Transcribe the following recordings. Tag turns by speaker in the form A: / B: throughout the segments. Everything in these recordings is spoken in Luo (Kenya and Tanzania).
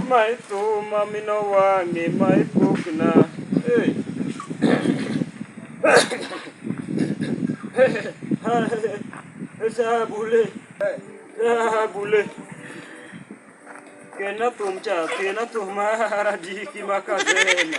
A: Mae thuma mino wang'e mae pokna hey. Sabule Sabule Kena thum cha kena thum mara diki makazema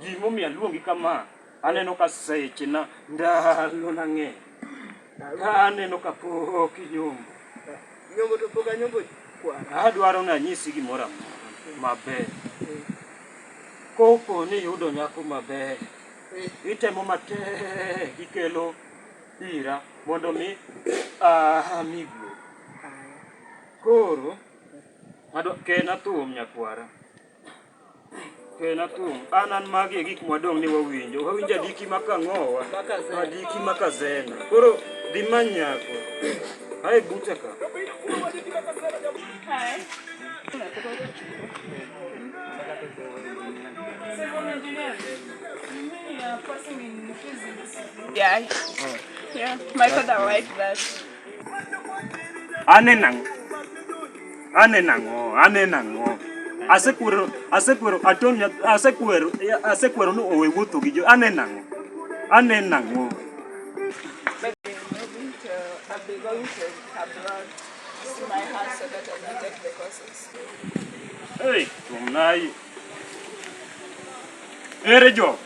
A: Gimomiyo aluongi kama, aneno ka seche na ndalo na ng'eny. Ka aneno ka pok inyombo. Nyombo to
B: pok anyombo kwana. Adwaro ni anyisi
A: gimoro amora maber. Kopo ni iyudo nyako maber, itemo matek ikelo ira mondo mi ami guo. Koro, ken athum nyakwara. Ken akum. An an magi e gik mwadong' ni wawinjo. Wawinjo adiki ma kang'owa, adiki ma kazena. Koro dhi many nyako. Ae buta ka. Yeah.
C: Yeah. My father liked that. Ane
A: nang'o? Ane nang'o? Ane nang'o? Asekwero, asekwero, atoni, asekwero, asekwero ni owe wuotho gi jo. Ane nang'o? Ane
C: nang'o? Hey,
A: tuomnayi. Ere jo?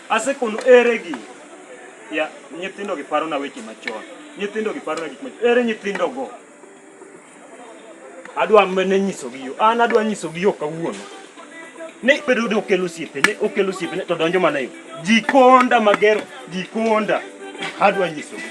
A: Asekono ere gi ya nyithindo gi paro na weche machon. Nyithindo gi paro na gik machon. Ere nyithindo go? Adwa mene nyiso gi yo. An adwa nyiso gi yo kawuono. Ne bedo do kelo siepe, ne okelo siepe ne to donjo mana yo. Jikonda magero, jikonda. Adwa nyiso gi.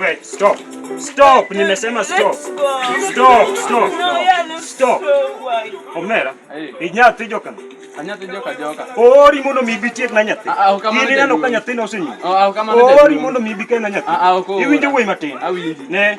A: Wait, stop. Stop, nimesema stop. Stop, stop. Stop. Omera, inyathi joka. Anyathi joka
B: joka. Ori mondo mi bi
A: tiek na nyathi. Ah, ah, Ini neno ka nyathi na osenyi. Ah, Ori mondo mi bi ka na nyathi. Iwinjo wuoyi matin. Ne.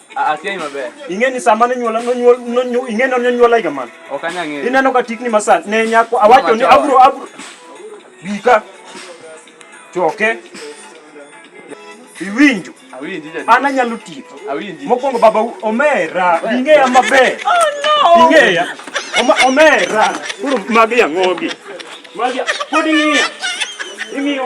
B: Akia
A: maber.
B: Ing'e ni sama ne nyuola
A: nonyuol nonyuol ing'e ni nonyuola higa man. Ok anya ng'eyo. Ineno ka
B: tikni masan
A: ne nyako awacho ni abro abro bika choke iwinjo Awinji jadi. an anyalo
B: tiyo
A: Awinji. mokwongo baba omera ing'eya maber ing'eya
C: Oma-
A: omera koro magi yang'ogi magi pod ing'iya ing'iyo